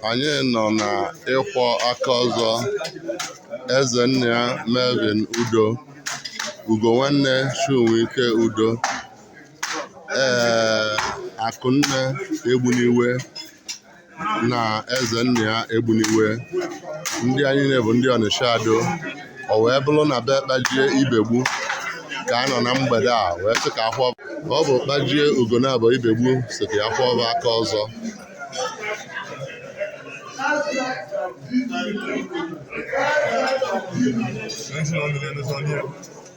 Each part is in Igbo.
anyị nọ na ịkwọ aka ọzọ ezennia melvin udo ugonwanne chinwike udo ee akụnne egbuniwe na ezennia egbuniwe ndị anyị na-abụ ndị ọnịsha ado o wee bụlụ na be kpajie ibegbu ka a nọ na mgbede a wee sị ka akwọ ọ bụ kpajie ugonabọ ibegbu sị ka ya kwọọ va aka ọzọ Thank you.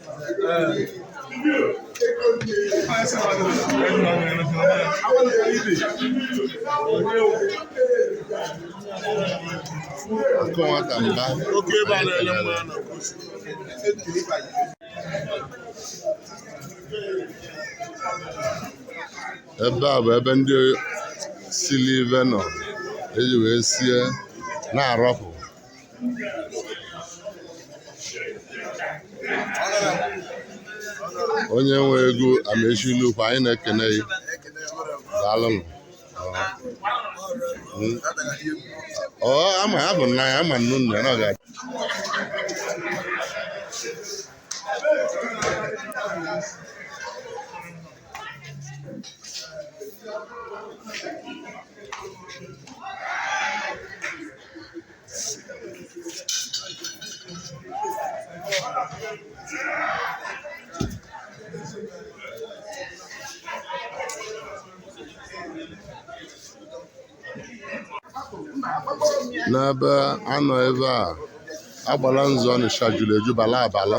Ọkụ nwata mba. Oke ebe a na-ele mma na Ebe a bụ ebe ndị sili ive nọ eji wee sie na-arapụ onye nwe ego amaechi nnukwu anyị na-ekene ya daalụnụ ọ ama ya bụ nna ya ama nnu nna ya na ọ ga n'ebe a nọ ebe a agbalanze ọnịsha julu eju bala abala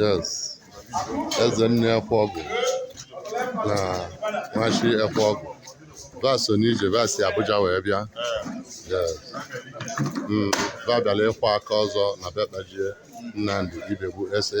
yes eze nne ekwe ọgụ na nwachi ekwe ọgụ va so n'ije va si abuja wee bịa yes Mm, va bịara ịkwọ aka ọzọ na be kpajie nnamdi ibegbu san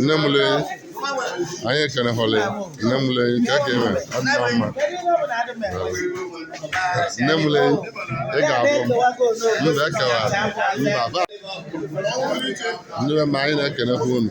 nne m lee anyị ekene hụlị nne m lee ka ka eme adịna mma nne m lee ị ga-abụ m mba ekewa mba ba ndị be m anyị na-ekenekwa unu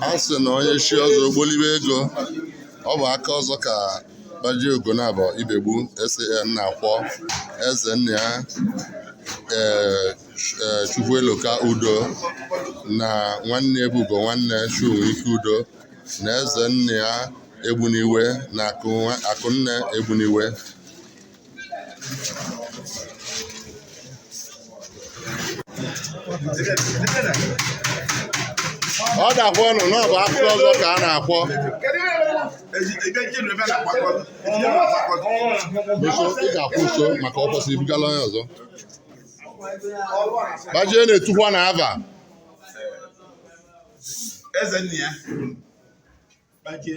a sị na onye chi ọzọ ogbolibe ego ọ bụ aka ọzọ ka Kpajie Ogonabọ Ibegbu SAN na-akwọ eze nna ya ee ee, Chukwueloka Udo na nwanne ya bụ Ugonwanne Chunwike Udo na eze nna ya Egbuniwe na Akụ- Akụnne Egbuniwe ọ dakwa ọnụ na ọ bụ aka ọzọ ka a na-akwọ nso ị ga-akwụ nso maka ọ kwụsịrị ibugala onye ọzọ Kpajie na-etukwa na ava eze nna ya Kpajie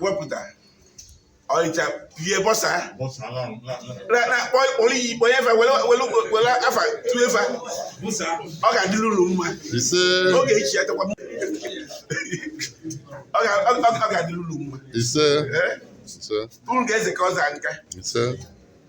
wepụta ọịcha pie bọsa na-akpọ kpọrọ iyi kpọnye efe were afa tụọ efe ọ ga-adịrị unu mma ọ ga-echi ya takwa ọ ga-adịrị unu mma unu ga-eze ka ọ zaa nka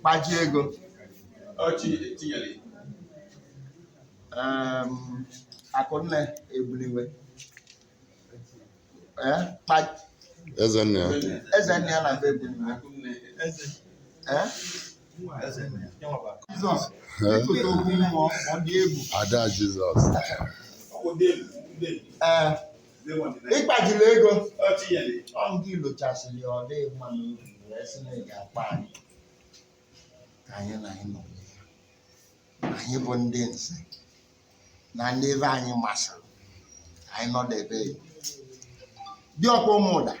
Kpajie ego Akụnne Egbuniwe eze nna ya eze nna ya na be Egbuniwe Jizọs ịtụta okwu mmụọ ọ dị egwu ada jizọs ee ịkpajiri ego ọ ndị ilochasịrị ya ọ dịghị mma n'obi wee sị na ị ga-akpa anyị ka anyị na anyị nọ anyị bụ ndị nze na ndị ebe anyị masịrị anyị nọdebe diọkpa Ụmụdei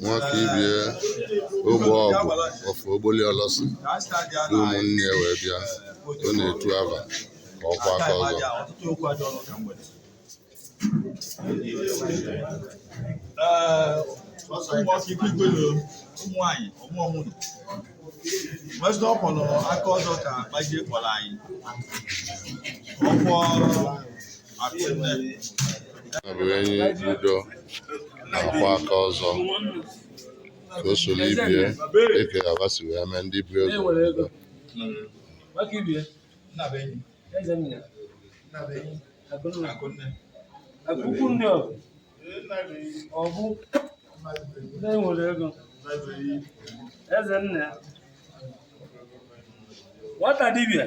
Nwakaibie ogbe ọgwụ ofe Ogboli Olosi ndị ụmụnne ya wee bịa ọ na-etu ava ka ọ kwọọ aka ọzọ ụmụnwaanyị ọmụọmụnụ wezụ ọ kwọrọ aka ọzọ ka Kpajie kpọrọ anyị ka ọ kwọọ ya bụ Enyi Udo na-akwọ aka ọzọ ka o soro ibie eke aba si wee mee ndị bu ego ego. nwata dibịa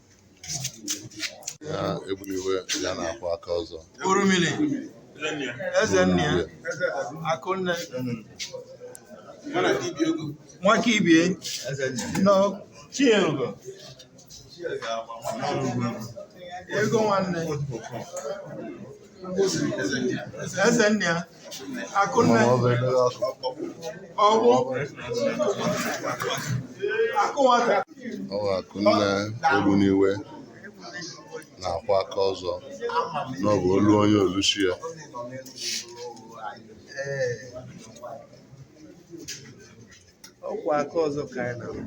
ya ebuliwe ya na-akwa aka ọzọ Orumili, eze nna ya, akụnne, nwaka ibie, nọ Chinyelugo, ego nwanne. eze nna ya akụnne ọgwụ akụ nwata Ọ bụ Akụnne Ogbuniwe na-akwa aka ọzọ na ọ bụ olu onye oluchi ya. ọ kwa aka ọzọ ka anyị na-ahụ.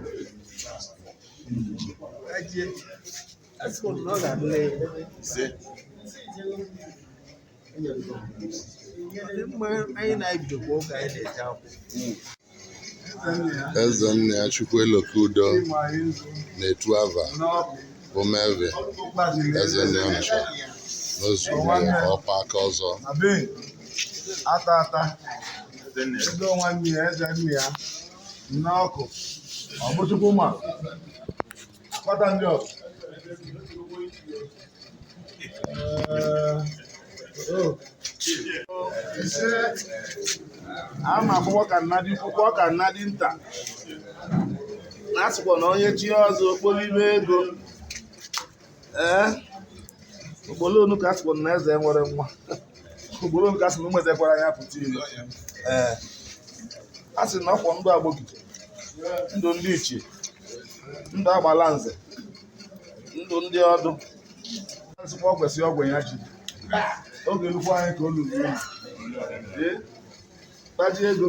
Ajie. eze nna ya Chukwueloka udo na-etu ava bụ meve eze nna ya ncha n'ozu ọkpa aka ọzọ ata ata ego nwanne ya eze nna ya n'ọkụ ọ bụ Chukwu ma Kpata ndị ọzọ. Ise, a ma akwụkwọ ka nnadị kwụkwọ ka nnadị nta. Na a sịkwa na onye chie ọzọ okporo ime ego. Ee, o gbolo ọnụ ka a sịkwa na eze enwerọ nwa. o gboro ọnụ ka a sị na ụmụ eze kwara anya pụta ilo ee a sị na ọkwọ ndụ Agbogidi ndụ ndị ichie ndụ Agbalanze ndụ ndị ọdụ nzikwa ọ kwesịrị ọgwụ ya ji oge nnukwu anyị ka o luru ee taji ego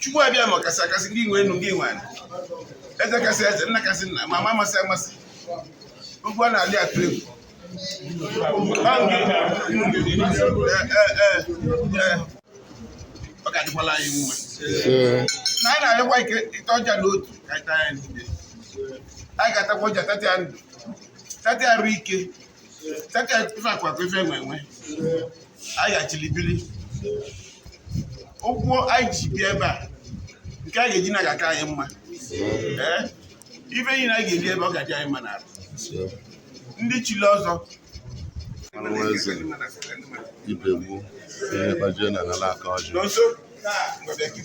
Chukwu Abịama ọkasị akasị gị nwe enu gị nwe anị eze kasị eze nna kasị nna amama amasị amasị ugwu a na-alị atụ egwu ọ ga-adịkwala anyị mma na anyị na-arịọkwa ike ịta ọjị a n'otu ka anyị taa ya niile anyị ga-atakwa ọjị a tatịa ndụ tatịa arụ ike ife akụ akụ ife enwe enwe anyị ga-ejiri biri ụkwụ anyị ji bịa ebe a nke anyị ga-eji naa ga-aka anyị mma ee ebe niile anyị ga-ebi ebe ọ ga-adị anyị mma n'ala ndị chili ọzọ ibegbu ihe kpajie na ala aka ọjị n'ọzọ Thank you.